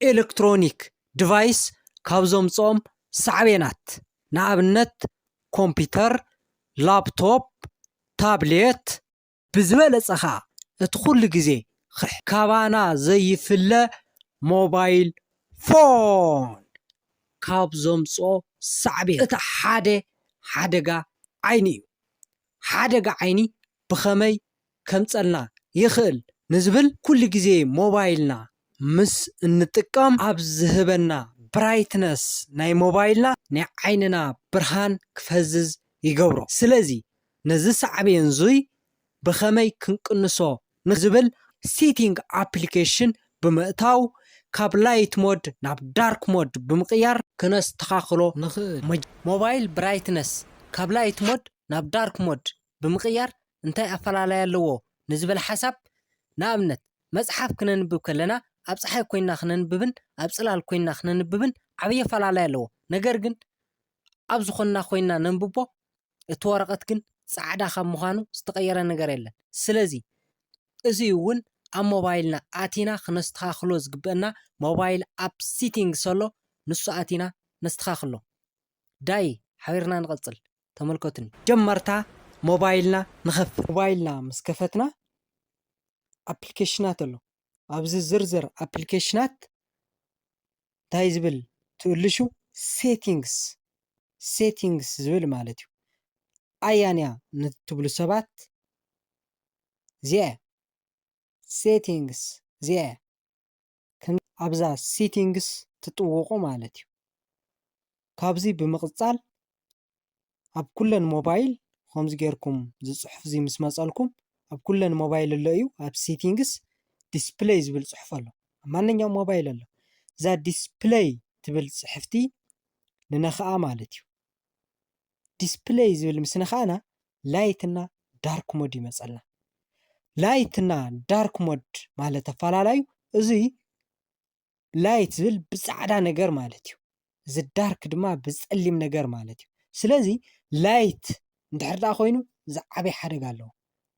ኤለክትሮኒክ ድቫይስ ካብ ዘምፅኦም ሳዕቤናት ንኣብነት ኮምፒተር፣ ላፕቶፕ፣ ታብሌት፣ ብዝበለፀ ከዓ እቲ ኩሉ ግዜ ካባና ዘይፍለ ሞባይል ፎን ካብ ዘምፅኦ ሳዕቤን እቲ ሓደ ሓደጋ ዓይኒ እዩ። ሓደጋ ዓይኒ ብኸመይ ከምጸልና ይኽእል ንዝብል ኩሉ ግዜ ሞባይልና ምስ እንጥቀም ኣብ ዝህበና ብራይትነስ ናይ ሞባይልና ናይ ዓይንና ብርሃን ክፈዝዝ ይገብሮ ስለዚ ነዚ ሳዕቤን እዙይ ብኸመይ ክንቅንሶ ንዝብል ኣብ ሴቲንግ ኣፕሊኬሽን ብምእታው ካብ ላይት ሞድ ናብ ዳርክ ሞድ ብምቕያር ክነስተኻኽሎ ንኽእል። ሞባይል ብራይትነስ ካብ ላይት ሞድ ናብ ዳርክ ሞድ ብምቕያር እንታይ ኣፈላላይ ኣለዎ ንዝብል ሓሳብ፣ ንኣብነት፣ መጽሓፍ ክነንብብ ከለና ኣብ ጸሓይ ኮይንና ክነንብብን ኣብ ጽላል ኮይንና ክነንብብን ዓብይ ኣፈላላይ ኣለዎ። ነገር ግን ኣብ ዝኾንና ኮይንና ነንብቦ፣ እቲ ወረቐት ግን ጻዕዳ ካብ ምዃኑ ዝተቐየረ ነገር የለን። ስለዚ እዚ እውን ኣብ ሞባይልና ኣቲና ክነስተኻኽሎ ዝግበእና ሞባይል ኣብ ሲቲንግስ ኣሎ ንሱ ኣቲና ነስተኻኽሎ። ዳይ ሓቢርና ንቐጽል ተመልከቱኒ። ጀመርታ ሞባይልና ንኸፍት። ሞባይልና ምስ ከፈትና ኣፕሊኬሽናት ኣሎ። ኣብዚ ዝርዝር ኣፕሊኬሽናት እንታይ ዝብል ትእልሹ ሴቲንግስ ሴቲንግስ ዝብል ማለት እዩ። ኣያንያ ንትብሉ ሰባት እዚኣ እያ ሴቲንግስ እዚኣ እያ። ኣብዛ ሴቲንግስ ትጥውቑ ማለት እዩ ካብዚ ብምቕጻል ኣብ ኩለን ሞባይል ከምዚ ጌርኩም ዝጽሑፍ እዚ ምስ መጸልኩም ኣብ ኩለን ሞባይል ኣሎ እዩ ኣብ ሴቲንግስ ዲስፕለይ ዝብል ጽሑፍ ኣሎ ኣብ ማንኛውም ሞባይል ኣሎ እዛ ዲስፕለይ ትብል ጽሕፍቲ ንነኽኣ ማለት እዩ ዲስፕለይ ዝብል ምስ ነካእና ላይት እና ዳርክ ሞድ ይመፀልና። ላይት እና ዳርክ ሞድ ማለት ኣፈላላዩ እዙይ ላይት ዝብል ብፃዕዳ ነገር ማለት እዩ። እዚ ዳርክ ድማ ብፀሊም ነገር ማለት እዩ። ስለዚ ላይት እንድሕር ደኣ ኮይኑ ዝዓበየ ሓደጋ ኣለዎ።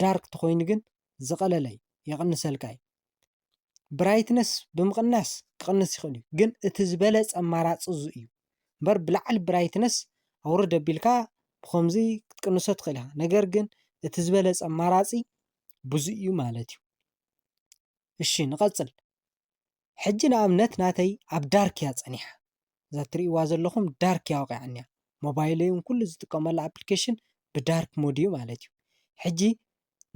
ዳርክ ተኮይኑ ግን ዝቐለለ እዩ የቐንሰልካ እዩ። ብራይትነስ ብምቕናስ ክቕንስ ይኽእል እዩ ግን እቲ ዝበለጸ ኣማራጺ እዚ እዩ እምበር ብላዕሊ ብራይትነስ ኣውርድ ኣቢልካ ብኸምዚ ክትቅንሶ ትኽእል ኢኻ ነገር ግን እቲ ዝበለጸ ኣማራጺ ብዙ እዩ ማለት እዩ እሺ ንቐጽል ሕጂ ንኣብነት ናተይ ኣብ ዳርክ እያ ጸኒሓ እዛ ትሪእዋ ዘለኹም ዳርክ እያ ወቒዓኒያ ሞባይለይ እውን ኩሉ ዝጥቀመሉ ኣፕሊኬሽን ብዳርክ ሞድ እዩ ማለት እዩ ሕጂ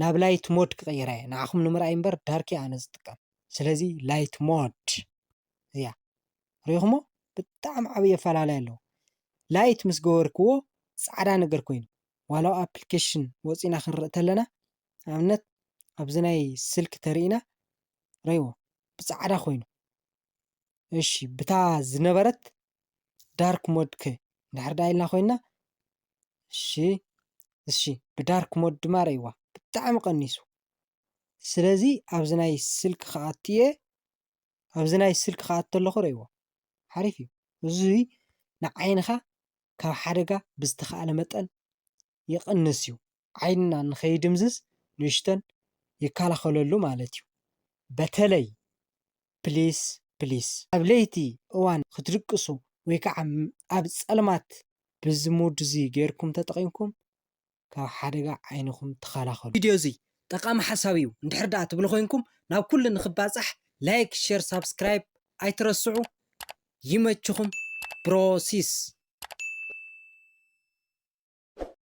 ናብ ላይት ሞድ ክቕይራ እየ ንዓኹም ንምርኣይ እምበር ዳርክ እያ ኣነ ዝጥቀም ስለዚ ላይት ሞድ እያ ሪኢኹሞ ብጣዕሚ ዓብዪ ኣፈላለይ ኣለዎ ላይት ምስ ገበርክዎ ፃዕዳ ነገር ኮይኑ ዋላ ኣፕሊኬሽን ወፂና ክንርኢ ተለና ንኣብነት ኣብዚ ናይ ስልኪ ተሪኢና ረይዎ ብፃዕዳ ኮይኑ እሺ ብታ ዝነበረት ዳርክ ሞድ ከ እንድሕር ዳ ኢልና ኮይና እሺ እሺ ብዳርክ ሞድ ድማ ረይዋ ብጣዕሚ ቀኒሱ ስለዚ ኣብዚ ናይ ስልክ ክኣቱ እየ ኣብዚ ናይ ስልክ ክኣቱ ኣለኹ ረይዎ ሓሪፍ እዩ እዚ ንዓይንኻ ካብ ሓደጋ ብዝተኸኣለ መጠን ይቕንስ እዩ። ዓይንና ንከይድምዝዝ ንእሽተን ይከላኸለሉ ማለት እዩ። በተለይ ፕሊስ ፕሊስ ኣብ ለይቲ እዋን ክትድቅሱ ወይ ከዓ ኣብ ፀልማት ብዚ ሙድ እዚ ገይርኩም ተጠቒምኩም ካብ ሓደጋ ዓይንኹም ተኸላኸሉ። ቪድዮ እዚ ጠቓሚ ሓሳብ እዩ እንድሕር ደኣ ትብሉ ኮይንኩም ናብ ኩሉ ንክባፃሕ ላይክ ሼር ሳብስክራይብ ኣይትረስዑ። ይመችኹም ብሮሲስ።